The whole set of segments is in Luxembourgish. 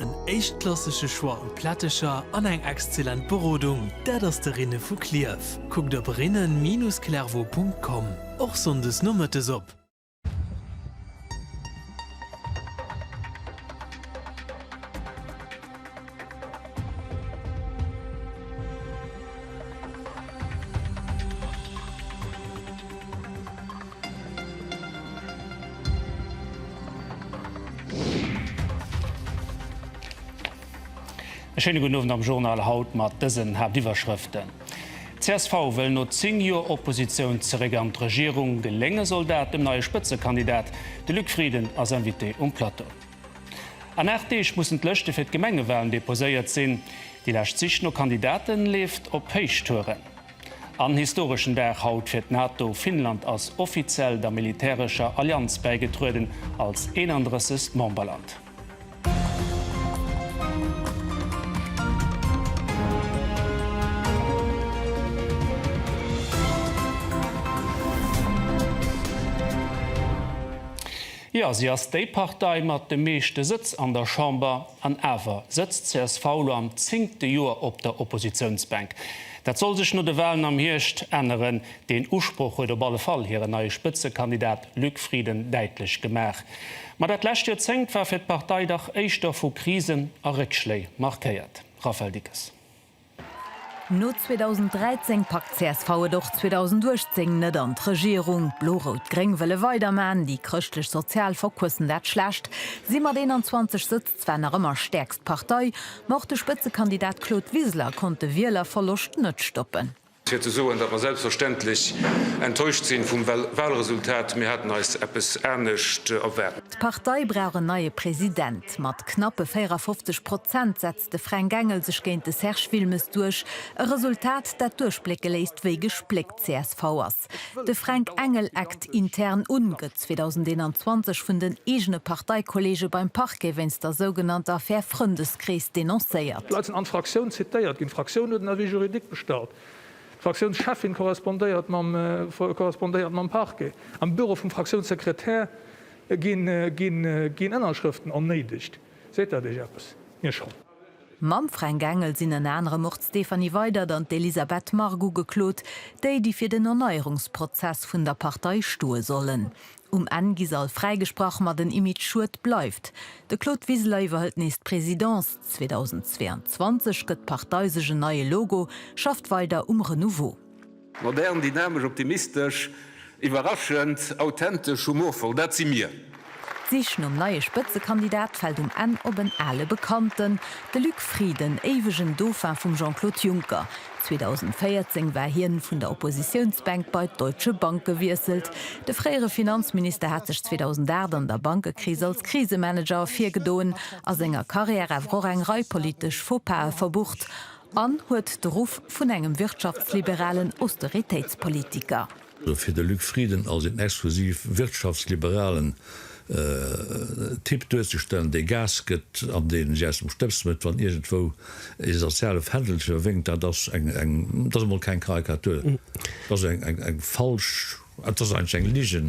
En éischtklassege Choix u Plättecher an eng exzellent Berodung, dat ass de Rinne vu Klierf. Kuckt op rinnen-clervaux.com, och sonndes nomëttes op. E schéine gudden Owend am Journal haut mat dësen Haaptiwwerschrëften, Csv wëll no 10 Joer Oppositioun zeréck an d'Regierung, gelénge soll dat dem neie Spëtzekandidat, de Luc Frieden ass Invité um Plateau. An 8 Deeg mussen d'Lëschte fir d'Gemengewalen deposéiert sinn, déi lescht Sich no Kandidate leeft op Héichtouren. En historeschen Dag haut fir d'NATO, Finnland ass offiziell der militärescher Allianz bäigetrueden, als 31. Memberland. Jo, si ass déi Partei mat de meeschte Sëtz an der Chamber, an awer sëtzt csv lo am zéngte Joer op der Oppositiounsbänk. Dat soll sech no de Wahlen am Hierscht änneren. Deen Usproch huet op alle Fall hiren neie Spëtzekandidat Luc Frieden däitlech gemaach. Ma dat lescht Joerzéngt war fir d'Partei dach éischter vu Krisen a Réckschléi markéiert. Raphaël Dickes. No 2013 packt csv et och 2018 net an d'Regierung. Blo-Rout-Gréng wëlle weiderman, déi chrëschtlech-sozial verquëssen dat Schlecht, si mat 21 Sëtz Zwar nach ëmmer stäerkst Partei, ma och de Spëtzekandidat Claude Wiseler konnt de Wielerverloscht net stoppen. Fir ze soen, datt mer selbstverständlech enttäuscht sinn vum Wahlresultat, mir haten eis eppes anescht erwaart. D'Partei brauch en neie President. Mat knappe 54 Prozent setzt de Fränk Engel sech géint de Serge Wilmes duerch, e Resultat, dat duerchblécke léisst, wéi gespléckt csv ass. Act. De Fränk Engel eckt intern un, gëtt 2021 vun den eegene Parteikolleege beim Parquet wéinst der sougenannter Affär Frëndeskrees denoncéiert. D'Leit sinn an d'Fraktioun zitéiert ginn. D'Fraktioun huet en Avis juridique bestallt. D'Fraktiounscheffin korrespondéiert mam korrespondéiert mam Parquet. Am Büro vum Fraktiounssekretär ginn ginn ginn Ënnerschrëften ernéidegt. Seet dat Iech eppes? Mir schonn. Mam Fränk Engel sinn ënner anerem och d'Stéphanie Weydert an d'Elisabeth Margue ugeklot, déi déi fir den Erneierungsprozess vun der Partei stoe sollen. Um Enn gi se all fräigesprach, ma den Image Schued bleift. De Claude Wiseler iwwerhëlt nees d'Presidence. 2022 gëtt d'Partei sech en neie Logo, schafft weider um Renouveau. Modern, dynamesch, optimistesch, iwwerraschend, authentesch, humorvoll, dat si mir! D'Sich nom neie Spëtzekandidat fält um Enn op en ale Bekannten, de Luc Frieden, éiwegen Dauphin vum Jean-Claude Juncker. 2014 war hien vun der Oppositiounsbänk bei d'Deutsche Bank gewiesselt. De fréiere Finanzminister hat sech 2008 an der Bankekris als Krisemanager ervirgedoen a senger Karriär awer och eng Rei politesch Faux-Pas'e verbucht. An huet de Ruff vun engem wirtschaftsliberalen Austeritéitspolitiker. Fir de Luc Frieden als een exklusiv wirtschaftsliberalen Typ duerzestellen, dee Gas gëtt an dee si aus dem Stëbs métt, wann iergendwou ee soziale Fändelcher wénkt, dat ass eng, dat ass emol keng Karikatur, dat ass eng falsch, dat ass eigentlech eng Ligen,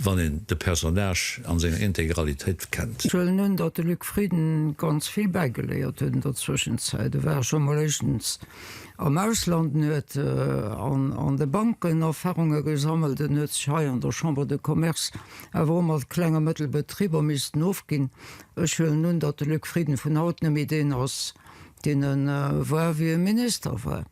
wann een de Personnage an senger Integralitéit kennt. Ech huelen un, datt de Luc Frieden ganz vill bäigeléiert huet an der Zwëschenzäit. E war scho mol éischtens am Ausland, en huet an de Banken Erfahrunge gesammelt, en huet sech hei an der Chambre de Commerce awer och mat Kleng a Mëttelbetriber missten ofginn. Ech huelen un, datt de Luc Frieden vun haut nëmme deen ass, deen e war, wéi e Minister war.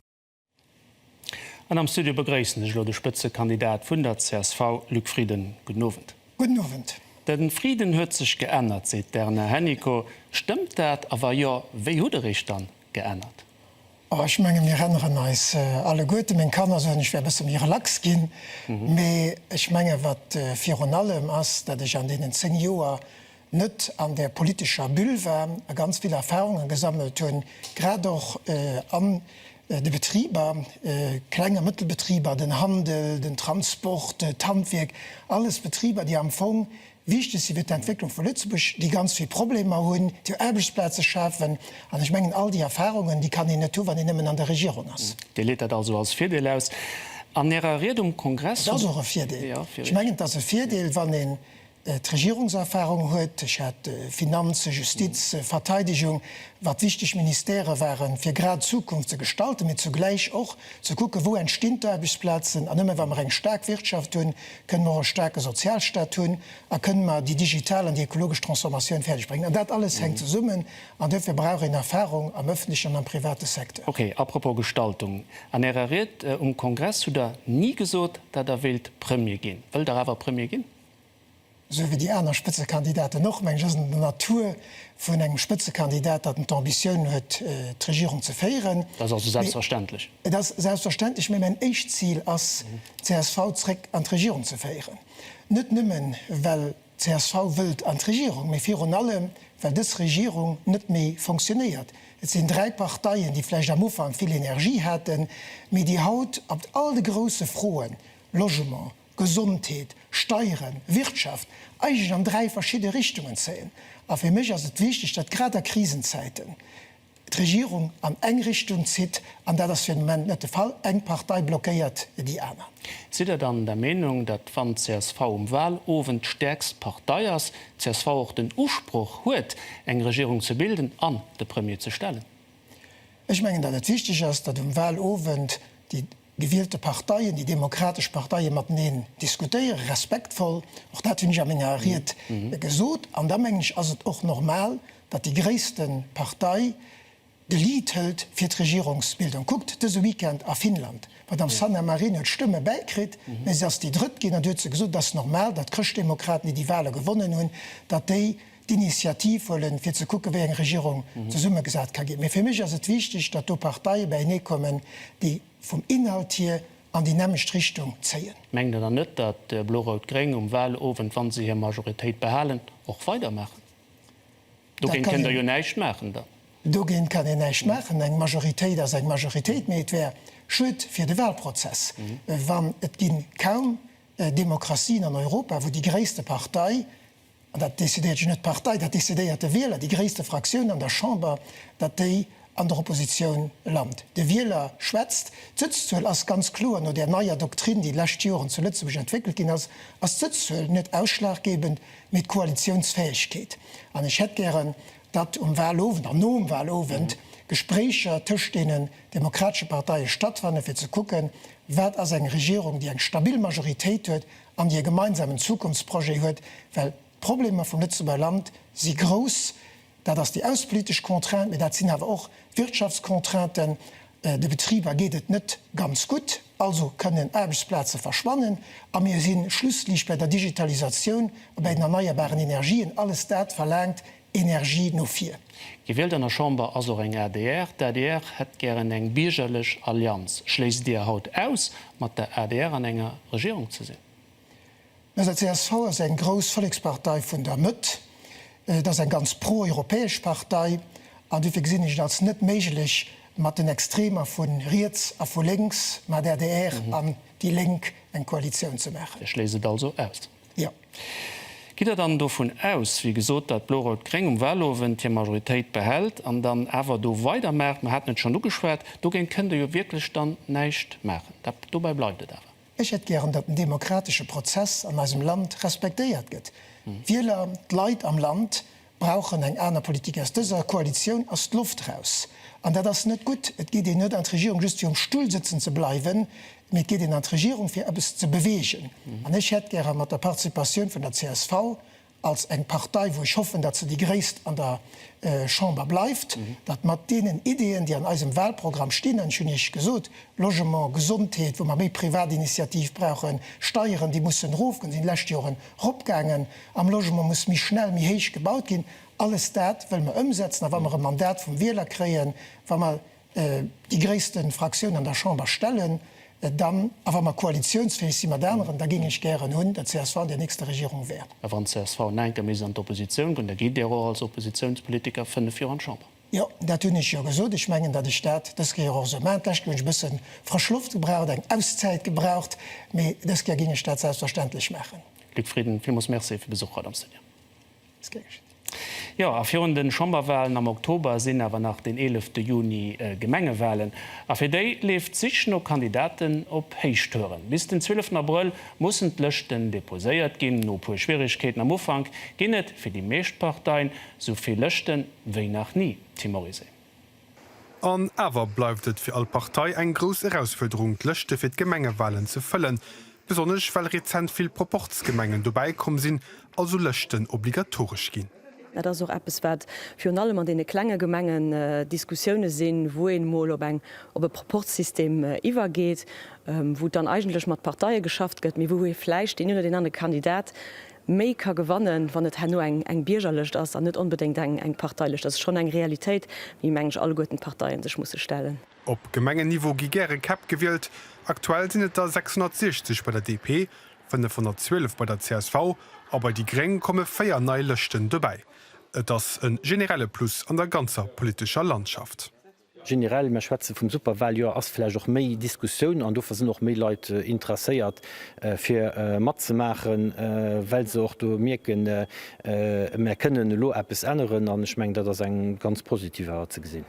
An am Studio begréissen ech elo de Spëtzekandidat vun der csv, Luc Frieden. Gudden Owend. Gudden Owend. De Frieden huet sech geännert, seet d'Erna Hennicot. Stëmmt dat? A wa jo, wéi hutt Der Iech dann geännert? Oh, ech menge mir ränneren eis alleguerte, meng Kanner soen, ech wär e bësse méi relax ginn. Mee ech menge wat virun allem ass, dat ech an deenen 10 Joer net an der politescher Bulle war a ganz vill Erfahrungen gesammelt hunn, grad och an de Betriber, Kleng a Mëttelbetriber, den Handel, den Transport, d'Handwierk, alles Betriber, déi am Fong wichteg si fir d'Entwécklung vu Lëtzebuerg, déi ganz vill Problemer hunn, déi Aarbechtsplaze schafen. An ech mengen, all déi Erfahrungen, déi kann een net hu wann een nëmmen an der Regierung ass. Dir leet dat also als Virdeel aus. An Ärer Ried um Kongress hutt. Et ass och e Virdeel. Ech mengen, et ass e Virdeel, wann ee d'Regierungserfahrung huet, ech hat Finanzen, Justiz, Verteidigung, wat wichteg Ministèrë waren, fir grad d'Zukunft ze gestalten, mee zugläich och ze kucken, wou entstinn d'Aarbechtsplazen. An nëmme wa mer eng staark Wirtschaft hunn, kënnen mer och e staarke Sozialstat hunn a kënnen mer déi digital an déi ökologesch Transformatioun fäerdeg bréngen. An dat alles hänkt zesummen an dofir brauch een Erfahrung am öffentlechen an am private Secteur. Ok, apropos Gestaltung. An Ärer Ried um Kongress hutt Der ni gesot, dat Der wéilt Premier ginn. Wëllt Der awer Premier ginn? esou wéi déi aner Spëtzekandidaten och, mengen ech, ass et an der Natur vun engem Spëtzekandidat, datt en d'Ambitioun huet, d'Regierung ze féieren. Dat ass also selbstverständlech. Et ass selbstverständlech, mä mäin éischt Zil ass, d'CSV zréck an d'Regierung ze féieren. Net nëmme well d'CSV wëllt an d'Regierung, mä virun allem well dës Regierung net méi fonctionnéiert. Et sinn dräi Parteien, déi vläicht am Ufank vill Energie haten, mä déi haut op all de grousse Froen, Logement, Gesondheet, Steieren, Wirtschaft, eigentlech an dräi verschidde Richtungen zéien. A fir mech ass et wichteg, datt grad a Krisenzäiten d'Regierung an eng Richtung zitt. An dat ass fir den Moment net de Fall. Eng Partei blockéiert déi aner. Sidd Der dann der Meenung, datt wann d'CSV um Wahlowend d'stäerkst Partei ass, d'CSV och den Usproch huet, eng Regierung ze bilden an de Premier ze stellen? Ech mengen, datt et wichteg ass, datt um Wahlowend déi gewielte Parteien, déi demokratesch Parteie mateneen diskutéieren, respektvoll, och dat hunn ech a menger Ried gesot. An da mengen ech, ass et och normal, datt déi gréisste Partei de Lead hëlt fir d'Regierungsbildung. Kuckt dëse Weekend a Finnland, d'Madame Sanna Marin huet Stëmme bäikritt, mä si ass déi Drëtt ginn. An du huet se gesot, et ass normal, datt d'Chrëschtdemokraten, déi déi Wahle gewonnen hunn, datt déi. Initiativ huelen, fir ze kucken, wéi eng Regierung zesummegesat ka ginn. Mee fir mech ass et wichtig, datt do Parteie beienee kommen, déi vum Inhalt hier an déi nämmlecht Richtung zéien. Mengt Der dann net, datt Blo-Rout-Gréng um Wahlowend, wa se hir Majoritéit behalen, och weidermaachen? Dogéint kënnt Der jo näischt maachen dann. Dogéint kann een näischt maachen. Eng Majoritéit ass eng Majoritéit. Mee et wär schued fir de Wahlprozess, wann, et gi kaum Demokratien an Europa, wou déi gréisste Partei an dat decidéiert jo net d'Partei, dat decidéiert de Wieler, déi gréisste Fraktioun an der Chamber, datt déi an der Oppositioun lant. De Wieler schwätzt. D'Sëtzzuel ass ganz kloer, no där neier Doktrin, déi d'lescht Joren zu Lëtzebuerg entwéckelt ginn ass, ass d'Sëtzzuel net ausschlaggebend, mee d'Koalitiounsfäegkeet. An ech hätt gären, datt um Wahlowend an nom Wahlowend Gespréicher tëscht deenen demokratesche Parteie stattfannen, fir ze kucken, wat ass eng Regierung, déi eng stabil Majoritéit huet an déi e gemeinsamen Zukunftsprojet huet, well d'Problemer vum Lëtzebuerger Land si grouss, dat ass déi aussepolitesch Contrainte, mä dat sinn awer och d'Wirtschaftscontrainten, de Betriber geet et net ganz gutt, also kënnen Aarbechtsplaze verschwannen, a mir si schlusslich bei der Digitalisatioun a bei den erneierbaren Energien, alles dat verlaangt Energie no vir. Gewielt an der Chamber ass och eng adr. D'adr hätt gären eng biergerlech Allianz. Schléisst Dir haut aus, mat der adr an enger Regierung ze sinn? Mä se, csv, ass eng grouss Vollekspartei vun der Mëtt. Et ass eng ganz pro-europäesch Partei. An dofir gesinn ech et als net méiglech, mat den Extremer vu riets a vu lénks, mat adr an déi Lénk, eng Koalitioun ze maachen. Dir schléisst et also aus? Jo. Gitt Der dann dovun aus, wéi gesot, datt Blo-Rout-Gréng um Wahlowend hir Majoritéit behält an dann awer do weidermaacht? Mer haten et schonn ugeschwat, dogéint kënnt Der jo wierklech dann näischt maachen. Dat, dobäi bleift et awer. Ech hätt gären, datt den demokratesche Prozess an eisem Land respektéiert gëtt. D'Wieler, d'Leit am Land brauchen eng aner Politik. Aus dëser Koalitioun ass d'Loft raus an dat ass net gutt. Et geet een net an d'Regierung just fir um Stull sëtzen ze bleiwen, mee et geet een an d'Regierung fir eppes ze beweegen. An ech hätt gäre mat der Participatioun vun der csv als eng Partei, wou ech hoffen, datt se déi gréisst an der Chamber bleift, datt mat deenen Ideeën, déi an eisem Wahlprogramm stinn, an ech hunn Iech gesot, Logement, Gesondheet, wou mer méi Privatinitiativ brauchen, Steieren, déi mussen erofgoen, si sinn d'lescht Joren eropgaangen, Am Logement muss méi schnell, méi héich gebaut ginn. Alles dat wëlle mer ëmsetzen. A wa mer e Mandat vum Wieler kréien, wa mer déi gréisste Fraktioun an der Chamber stellen, dann, a wa mer koalitionsfäeg si mat aneren, da géing ech gären hunn, datt csv an där nächster Regierung wär. A wann csv en enker méi an d'Oppositioun gonn, da geet Dir och als Oppositionspolitiker fënnef Joer an d'Chamber. Jo, dat hunn ech jo gesot. Ech mengen, datt ech dat dës Kéier och esou maachen. D'lescht Kéier hunn ech e bësse frësch Loft gebraucht, eng Auszäit gebraucht, mee dës Kéier géing ech dat selbstverständlech maachen. Luc Frieden, Villmools Merci fir Besuch haut am Studio. Ass gär geschétt. Jo, a virun de Chamberwalen am Oktober sinn awer nach den 11 te Juni Gemengewalen. A fir déi leeft d'Sich no Kandidaten op Héichtouren. Bis den 12 Abrëll mussen d'Lëschten deposéiert ginn. No e puer Schwieregkeeten am Ufank ginn et fir déi meescht Parteien esou vill Lëschten, Wéi nach ni, Tim Morisé. An awer bleift et fir all Partei eng grouss Erausfuerderung, d'Lëschte fir d'Gemengewalen ze fëllen, besonnesch well rezent vill Proporzgemengen dobäi komm sinn, also Lëschten obligatoresch ginn. Dat ass och eppes, wat virun allem an deene klenge Gemengen Diskussioune sinn, wou een emol op eng, op e Proporzsystem iwwergeet, wou dann eigentlech mat Parteie geschafft gëtt, mee wou ee vläicht deen een oder deen anere Kandidat, méi ka gewannen, wann et herno eng Biergerlëscht ass an net onbedéngt eng Parteilëscht. Dat ass schonn eng Realitéit, déi, meng ech, alleguerten d'Parteien sech musse stellen. Op Gemengenniveau gi gäre Käpp gewielt. Aktuell sinn et der 660 bei der DP, 512 bei der csv a bei déi gréng komme véier nei Lëschten dobäi. Et ass e generelle Plus an der ganzer politescher Landschaft. Generell, mer schwätze vum Superwaljoer, ass vläicht och méi Diskussioun an dofir sinn och méi Leit interesséiert fir matzemaachen, well se och do mierken, mer kënnen elo eppes änneren an ech mengen dat ass eng ganz positiv awer ze gesinn.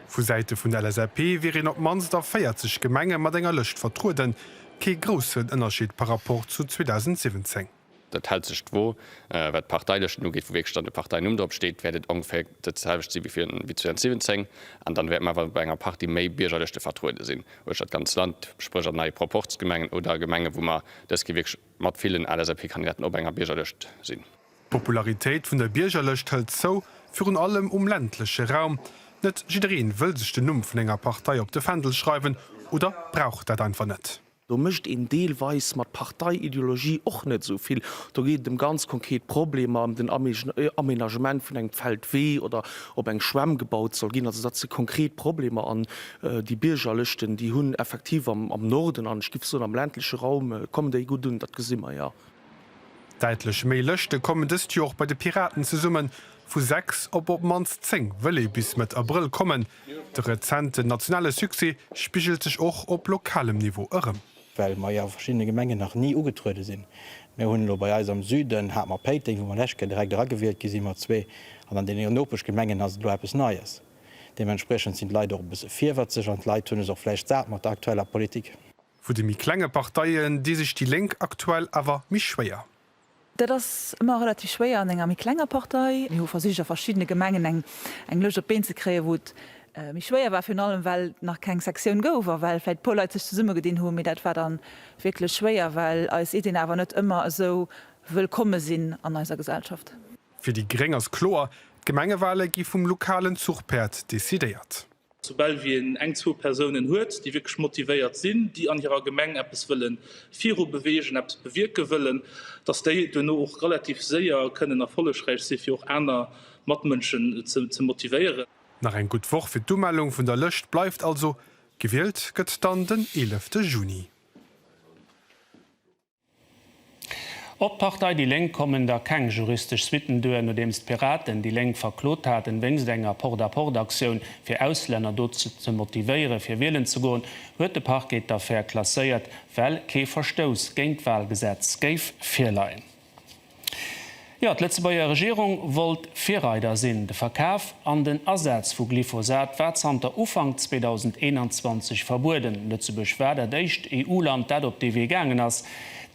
Vu Säite vun der LSAP wier een op d'mannst a 40 Gemenge mat enger Lëscht vertrueden, kee groussen Ënnerscheed par rapport zu 2017. Dat hält sech d'Wo. Wat d'Parteilëschten ugeet, wou wierklech dann de Parteinumm drop steet, wäert et ongeféier dat selwecht si wéi 2017. An dann wäerte mer awer bei enger Partie méi Biergerlëschte vertruede sinn, uecht dat ganz Land, spréch an nei Proporzgemengen oder Gemengen, wou mer dës Kéier wierklech mat villen LSAP-Kandidaten op enger Biergerlëscht sinn. D'Popularitéit vun der Biergerlëscht hëlt zou, virun allem um ländleche Raum. Net jiddereen wëll sech den Numm vun enger Partei op de Fändel schreiwen oder brauch dat einfach net. Do mécht een deelweis mat Parteiideologie och net esou vill. Do geet et ëm ganz konkret Problemer, ëm den Aménagement vun engem Feldwee oder ob eng Schwämm gebaut soll ginn. Also dat si konkret Problemer an déi Biergerlëschten, déi hunn effektiv am Norden an ech géif soen am ländleche Raum kommen déi gutt un. Dat gesi mer jo. Däitlech méi Lëschte kommen dëst Joer och bei de Piraten zesummen. Vu sechs op op d'mannst zéng wëll ee bis Mëtt Abrëll kommen. De rezenten nationale Succès spigelt sech och op lokalem Niveau erëm. Well mer jo a verschiddene Gemengen nach ni ugetruede sinn. Mir hunn elo bei eis am Süden, hat mer Péiteng, wou mer lescht Kéier direkt eragewielt gi si mat zwee, an an deene Nopeschgemengen ass et elo eppes Neies. Deementspriechend sinn d'Leit och e bësse virwëtzeg an d'Leit hunn es och vläicht sat mat der aktueller Politik. Vu de méi klenge Parteien dee sech déi Lénk aktuell awer méi schwéier. Dat ass ëmmer relativ schwéier an enger méi klenger Partei. Mir hu versicht a verschiddene Gemengen eng Lëscht op d'Been ze kréien, wou et méi schwéier war, virun allem well et nach keng Sektioun gouf a well vläicht e puer Leit sech zesummegedinn hunn, mee dat war da wierklech schwéier, well eis Iddien awer net ëmmer esou wëllkomme sinn an eiser Gesellschaft. Fir déi gréng ass kloer, d'Gemengewale gi vum lokalen Zuchpäerd decidéiert. Soubal wéi een eng, zwou Persounen huet, déi wierklech motivéiert sinn, déi an hirer Gemeng eppes wëllen virubeweegen, eppes bewierke wëllen, dass déi duerno och relativ séier kënnen erfollegräich si fir och aner Matmënschen ze motivéieren. Nach eng gutt Woch fir d'Umellung vun der Lëscht bleift also. Gewielt gëtt dann den 11 Juni. Op d'Partei déi Lénk kommen da keng juristesch Suitten duer, nodeems d'Piraten déi Lénk verklot haten, wéinst enger Porte-à-porte-Aktioun fir Auslänner dozou ze motivéieren, fir wielen ze goen, huet de Parquet d'Affär klasséiert, well kee Verstouss géint d'Walgesetz géif virleien. Jo, d'Lëtzebuerger Regierung wollt Virreider sinn. De Verkaf an den Asaz vu Glyphosat war zanter Ufank 2021 verbueden. Lëtzebuerg war dat éischt EU-Land, dat op dee Wee gaangen ass.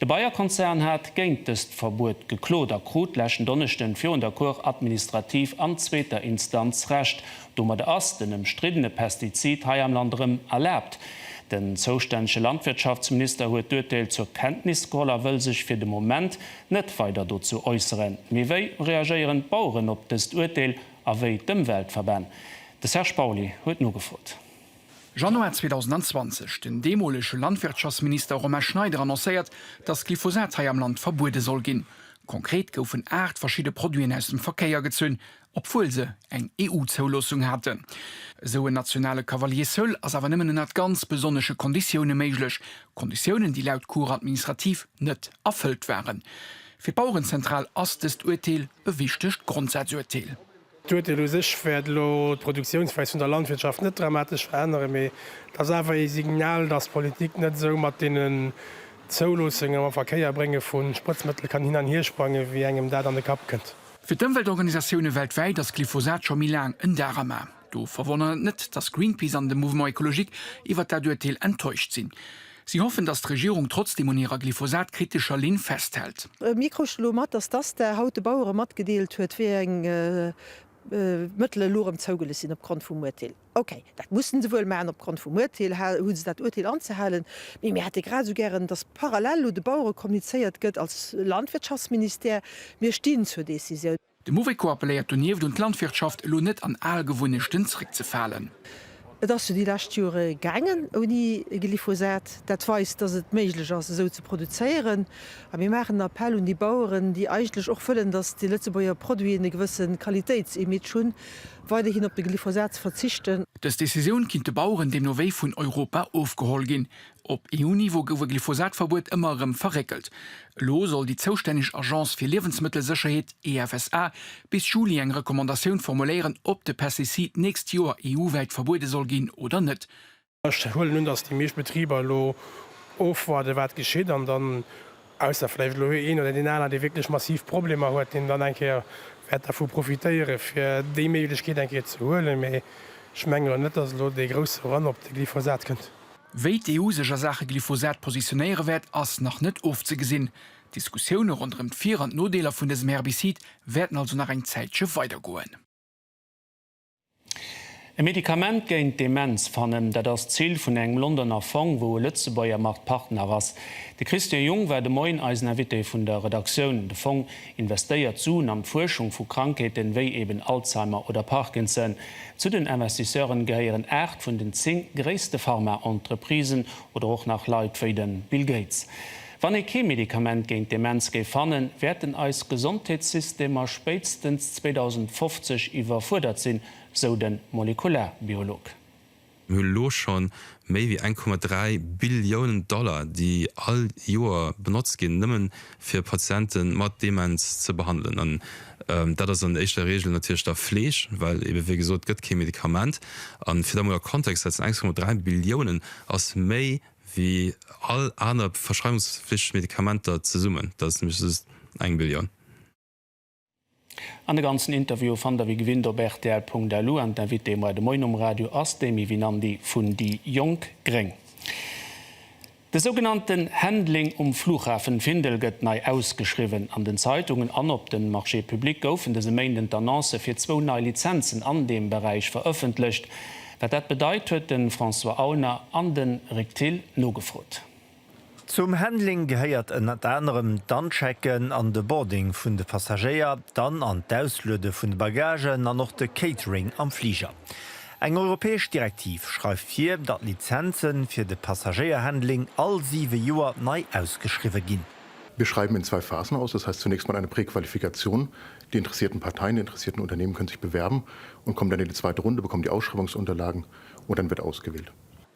De Bayer-Konzern hat géint dëst Verbuet geklot a krut leschten Donneschden virun der Cour administrative an zweeter Instanz Recht. Domadder ass den ëmstriddene Pestizid hei am Land erëm erlaabt. Den zoustännege Landwirtschaftsminister huet d'Urteel zur Kenntnis geholl a wëll sech fir de Moment net weider dozou äusseren. Mee wéi reagéieren d'Baueren op dëst Urteel a wéi d'Ëmweltverbänn? De Serge Pauly huet nogefrot. Januar 2020, Den deemolege Landwirtschaftsminister Romain Schneider annoncéiert, datt Glyphosat hei am Land verbuede soll ginn. Konkret goufen 8 verschidde Produiten aus dem Verkéier gezunn obwuel se eng EU-Zouloossung haten. Esou en nationale Cavalier seul ass awer nëmmen ënnert ganz besonnesche Konditioune méiglech, Konditiounen, déi laut Cour administrative net erfëllt waren. Fir d'Bauerenzentral ass dëst Urteel e wichtegt Grondsazuerteel. D'Urteel u sech wäert elo d'Produktiounsweis vun der Landwirtschaft net dramatesch veränneren, mee et ass awer ee Signal, datt d'Politik net esou mat deenen Zouloossungen, mam Verkéierbrénge vu Sprëtzmëttel kann hin an hiersprangen, wéi engem dat an de Kapp kënnt. Fir d'Ëmweltorganisatioune weltwäit ass Glyphosat scho méi laang en Darama. Do verwonnert et net, datt Greenpeace an de Mouvement Ecologique iwwert dat Urteel enttäuscht sinn. Si hoffen, datt d'Regierung trotzdeem un hirer glyphosat-kritescher Linn festhält. Mir kruten elo mat, datt d'ASTA haut de Bauere matgedeelt huet, wéi eng Mëttele elo erëm zougelis sinn opgrond vum Urteel. Ok, dat mussen se wuel maachen, opgrond vum Uerteel hu se dat Uerteel anzehalen. Mee mir hätte grad esou gären, datt parallel elo de Bauere kommunizéiert gëtt als Landwirtschaftsministère, mir stinn zur Decisioun. De Mouveco appelléiert donieft un d'Landwirtschaft, elo net an al Gewunnechten zréckzefalen. Et ass jo déi lescht Jore gaangen ouni Glyphosat. Dat weist, datt et méiglech ass esou ze produzéieren. A mir maachen en Appell un déi Baueren, déi eigentlech och wëllen, datt déi Lëtzebuerger Produiten e gewësse Qualitéitsimage hunn, Weiderhin op de Glyphosat ze verzichten. Dës Decisioun kinnt de Baueren deemno wéi vun Europa ofgeholl ginn. Op EU-Niveau gouf e Glyphosat-Verbuet ëmmer erëm verréckelt. Elo soll déi zoustänneg Agence fir Liewensmëttelsécherheet, EFSA, bis Juli eng Recommandatioun formuléieren, ob de Pestizid d'nächst Joer EU-wäit verbuede soll ginn oder net. Ech huelen un, dass déi meescht Betriber elo ofwaarden, wat geschitt, an dann, ausser vläicht elo een oder deen aneren, dee wierklech massiv Problemer huet, deen dann eng Kéier wäert dervu profitéieren, fir déi Méiglechkeet eng Kéier ze huelen. Mee ech mengen elo net, dass elo dee grousse Run op de Glyphosat kënnt. Wéi d'EU sech a Saache Glyphosat positionéiere wäert, ass nach net ofzegesinn. D'Diskussioune ronderëm d'Vir an d'Nodeeler vun dësem Herbicide wäerten also nach eng Zäitche weidergoen. E Medikament géint d'Demenz fannen, dat ass d'Zil vun engem Londoner Fong, wou e Lëtzebuerger mat Partner ass. De Christian Jung war de Moien eisen Invité vun der Redaktioun. De Fong investéiert Suen an d'Fuerschung vu Krankheeten, wéi eben Alzheimer oder Parkinson. Zu den Investisseuren gehéieren 8 vun den 10 gréisste Pharmaentreprisen oder och nach Leit wéi de Bill Gates. Wann ee kee Medikament géint Demenz géif fannen, wäerten eis Gesondheetssystemer spéitstens 2050 iwwerfuerdert sinn, sou de Molekularbiolog. Mir hu lo scho méi wéi 1,3 Billiounen Dollar, déi all Joer benotzt ginn, nëmmen fir Patiente mat Demenz ze behandelen. An dat ass an éischter Regel natierlech da Fleeg, well eebe wéi gesot, et gëtt kee Medikament. An fir dat mol a Kontext ze setzen, 1,3 Billiounen ass méi wéi all aner verschreiwungsflichteg Medikamenter zesummen, dat ass nämlech just eng Billioun. An de ganzen Interview fannt der wéi gewinnt op rtl.lu an d'Invitée bei de Moin um Radio ass d'Amy Winandy vun déi jonk gréng. De sougenannten Handling um Flughafen Findel gëtt nei ausgeschriwwen. An den Zeitungen an op den Marché public goufen dëse Méinden d'Annoncë fir zwou nei Lizenzen an deem Beräich verëffentlecht. Wat dat bedeit, huet de François Aulner an de Rik Thill nogefrot. Zum Handling gehéiert ënnert anerem d'Anchecken an de Boarding vun de Passagéier, d'An an d'Ausluede vun de Bagagen an och de Catering am Fliger. Eng europäesch Direktiv schreift vir, datt Lizenze fir de Passagéierhandling all siwe Joer nei ausgeschriwwe ginn. Wir schreiben in zwei Phasen aus, das heißt zunächst mal eine Präqualifikation, Die interessierten Parteien, die interessierten Unternehmen können sich bewerben und kommen dann in die zweite Runde, bekommen die Ausschreibungsunterlagen und dann wird ausgewählt.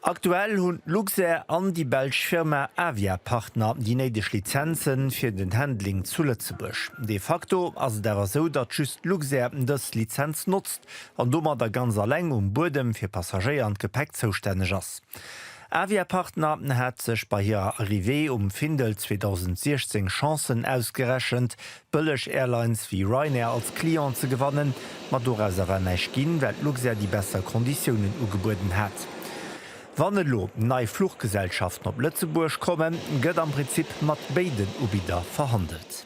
Aktuell hunn d'Luxair an déi belsch Firma Avia Partner déi néideg Lizenzen fir den Handling zu Lëtzebuerg. De facto ass et awer esou, datt just d'Luxair dës Lizenz notzt an domadder ganz alleng um Buedem fir Passagéier an d'Gepäck zoustänneg ass. Avia Partner hat sech bei hirer Arrivée um Findel 2016 Chancen ausgerechent, bëlleg Airlines wéi Ryanair als Client ze gewannen, ma doraus ass awer näischt ginn, well Luxair déi besser Konditiounen ugebueden hat. Wann elo nei Fluchgesellschaften op Lëtzebuerg kommen, gëtt am Prinzip mat béiden Ubidder verhandelt.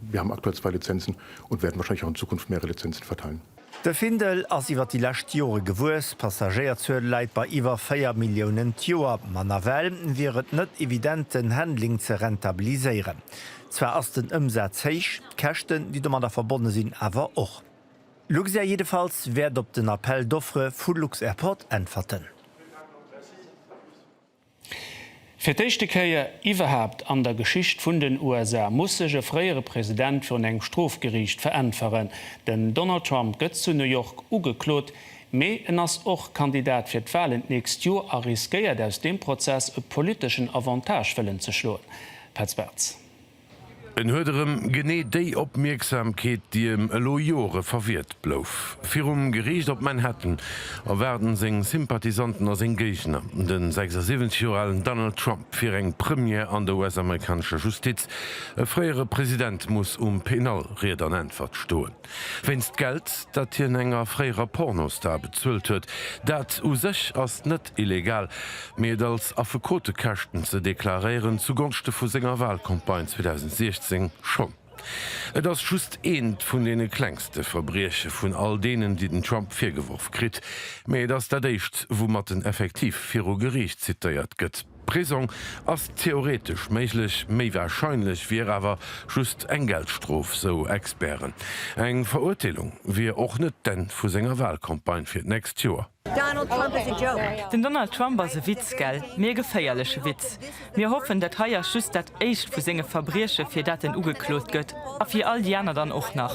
Wir haben aktuell zwei Lizenzen und werden wahrscheinlich auch in Zukunft mehrere Lizenzen verteilen. De Findel ass iwwer déi lescht Jore gewuess, d'Passagéierzuel läit bei iwwer 4 Milliounen d'Joer, ma nawell wier et net evident den Handling ze rentabiliséieren. Zwar ass den Ëmsaz héich, d'Käschten, déi domadder verbonne sinn, awer och. Luxair jiddefalls wäert op den Appel d'offres vu Lux-Airport äntwerten. Fir d'éischte Kéier iwwerhaapt an der Geschicht vun den USA muss sech e fréiere President virun engem Strofgeriicht veräntweren. Den Donald Trump gëtt zu New York ugeklot, mee en ass och Kandidat fir d'Walen d'nächst Joer a riskéiert aus deem Prozess e politeschen Avantage wëllen ze schloen. Petz Bartz. En huet erëm genee déi Opmierksamkeet, déi em elo Jore verwiert blouf. Virum Geriicht op Manhattan erwaarden seng Sympathisanten a seng Géigner de 76 Joer alen Donald Trump fir eng Première an der US-amerikanescher Justiz. E fréiere President muss um Penal Ried an Äntwert stoen. Wéinst Geld, dat hien enger fréierer Pornostar bezuelt huet. Dat u sech ass net illegal, mee et als Affekotekäschten ze deklaréieren, zugonschte vu senger Walcampagne 2016, schonn. Et ass just eent vun deene klengste Verbrieche vun all deenen, déi den Trump virgeworf kritt, mee et ass dat éischt, woumat en effektiv viru Geriicht zitéiert gëtt. Prisong ass theoretesch méiglech, méi warscheinlech wier awer just eng Geldstrof, sou Experten. Eng Verurteelung wier och net d'Enn vu senger Walcampagne fir d'nächst Joer. Den Donald Trump ass e Witz, gell? Mee e geféierleche Witz. Mir hoffen, dat hei ass just dat Éischt vu senge Verbrieche fir dat en ugeklot gëtt, a fir all déi aner dann och nach.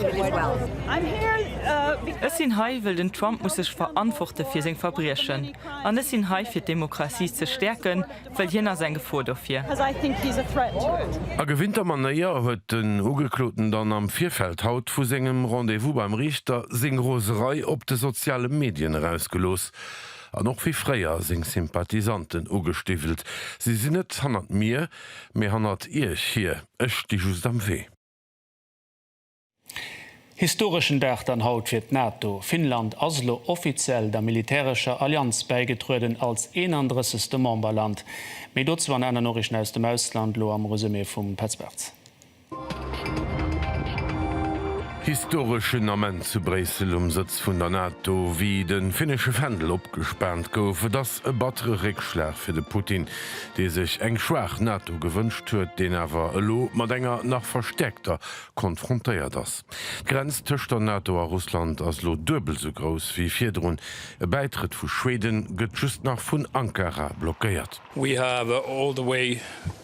Ech sinn hei, wëll den Trump muss sech verantworte fir seng Verbriechen. An ech sinn hei fir d'Demokratie ze stäerken, wëll hien ass eng Gefor dofir. A gewinnter Manéier huet den Ugekloten dann am Virfeld haut vu sengem Rendez-vous beim Riichter seng Roserei op de soziale Medien erausgelooss. An och wéi fréier seng Sympathisanten ugestiwwelt. Si sinn net hannert mir, mee hannert Iech hier. Ech sti just am Wee. Historeschen Dag dann haut fir d'NATO. Finnland ass elo offiziell der militärescher Allianz bäigetrueden, als 31. Memberland. Méi dozou an aner Noriichten aus dem Ausland, lo am Resumé vum Petz Bartz. Historeschen Ament zu Bréissel um Sëtz vun der NATO, wéi de finnesche Fändel opgespaant gouf. Et ass e battere Réckschlag fir de Putin, dee sech eng schwaach NATO gewënscht huet, deen awer elo mat enger nach verstäerkter konfrontéiert ass. D'Grenz tëscht der NATO a Russland ass elo duebel esou grouss wéi virdrun. E Bäitrëtt vu Schweden gëtt just nach vun Ankara blockéiert. We have all the way.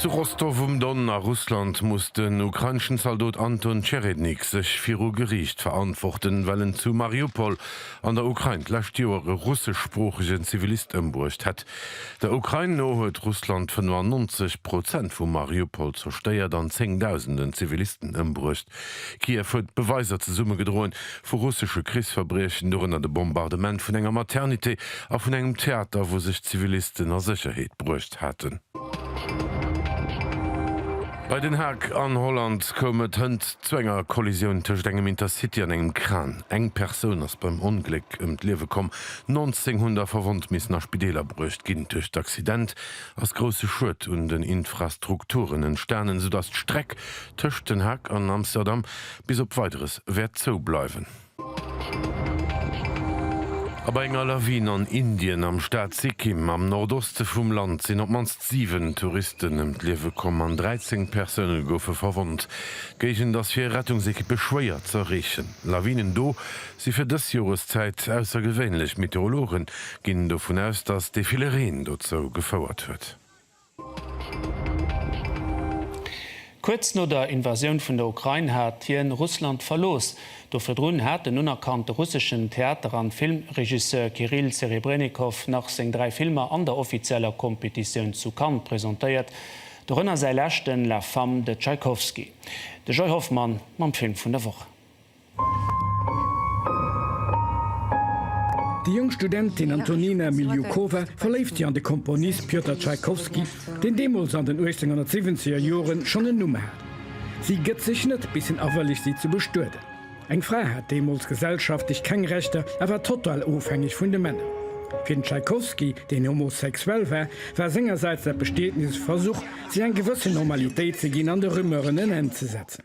Zu Rostow um Don a Russland muss den ukraineschen Zaldot Anton Tscherednik sech viru Geriicht verantworten, well en zu Mariupol an der Ukrain d'lescht Joer e russeschsproochegen Zivilist ëmbruecht hätt. Der Ukrain no huet Russland 95 Prozent vu Mariupol zerstéiert an Zéngdausenden Zivilisten ëmbruecht. Kiew huet Beweiser zesummegedroen, vu russesche Krichsverbriechen, dorënner de Bombardement vun enger Maternité a vun engem Theater, wou sech Zivilisten a Sécherheet bruecht haten. Bei Den Haag an Holland koum et hënt zu enger Kollisioun tëscht engem Intercity an engem Kran. Eng Persoun ass beim Ongléck ëm d'Liewe komm, 19 hunn da verwonnt missen a Spideeler bruecht ginn. Duerch d'Accident ass grousse Schued un den Infrastrukturen entstanen, soudatt d'Streck tëscht Den Haag an Amsterdam bis op Weideres wäert zou bleiwen. A bei enger Lawin an Indien am Staat Sikkim am Nordoste vum Land sinn op d'mannst 7 Touristen ëm d'Liewe komm an 13 Persoune goufe verwonnt. D'Géigend ass fir Rettungsekippe schwéier z'erreechen. Lawinen do si fir dës Joreszäit aussergewéinlech. Meteorologe ginn dovun aus, datt dee ville Reen dozou gefouert huet. Kuerz no der Invasioun vun der Ukrain hat hien Russland verlooss. Do virdrun hat den unerkannte russeschen Theater an Filmregisseur Kirill Serebrennikov nach seng dräi Filmer an der offizieller Kompetitioun zu Cannes presentéiert, dorënner säi leschten La Femme de Tchaïkovski. De Joy Hoffmann mam Film vun der Woch. Déi jonk Studentin Antonina Miliukova verléift sech an de Komponist Pjotr Tschaikowski, deen deemools an den 1870er Jore schonn en Numm hat. Si gëtt sech net, bis hien awëllegt si ze bestueden. Eng Fra hat deemools gesellschaftlech keng Rechter a war total ofhängeg vun de Männer. Fir den Tschaikowski, deen homosexuell war, war sengersäits dat Bestietnis e Versuch, sech eng gewëssen Normalitéit ze ginn an de Rumeuren en Enn ze setzen.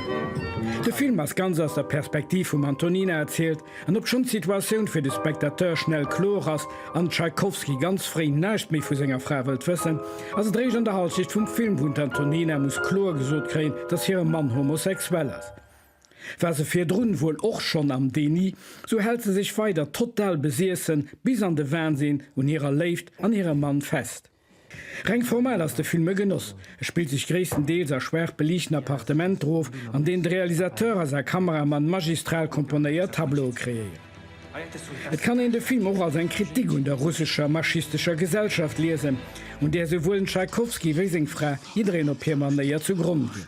De Film ass ganz aus der Perspektiv vum Antonina erzielt, an obschonn d'Situatioun fir de Spectateur schnell kloer ass an de Tschaikowski ganz fréi näischt méi vu senger Fra wëllt wëssen, ass et réischt an der Halschecht vum Film, wou d'Antonina muss kloer gesot kréien, dass hire Mann homosexuell ass. War se virdrun wuel och schonn am Déni, sou hält se sech weider total besiessen bis an de Wahnsinn un hirer Léift an hirem Mann fest. Reng formal ass de Film e Genoss. E spillt sech gréisstendeels a schwaach beliichten Appartementer of, an deenen de Realisateur a säi Kameramann magistral komponéiert Tableaue kreéieren. Et kann een de Film och als eng Kritik un der russescher maschistescher Gesellschaft liesen, un där souwuel den Tschaikowski wéi seng Fra jiddereen op hir Manéier zu Gronn ginn.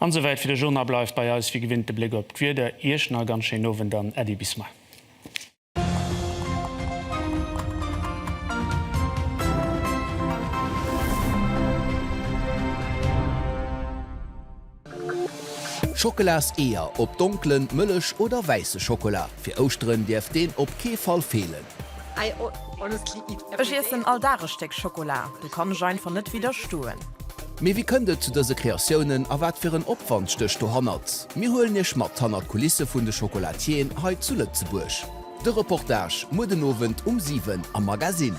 An esou wäit fir de Journal. Bleift bei eis wéi gewinnt de Bléck op d'Wieder. Iech nach e ganz schéinen Owend an Äddi bis mei. Schockelas-Eeër op donklen, mëllech oder wäisse Schockela fir Ouschteren däerf deen op kee Fall feelen. Ech iessen all Dag e Stéck Schokola, do kann ech einfach net widderstoen. Mee wéi kënnt et zu dëse Kreatiounen a wat fir en Opwand stécht dohannert? Mir huelen iech mat hannert d'Kulisse vun de Chocolatieren hei zu Lëtzebuerg. De Reportage muer den Owend um 7 am Magazine.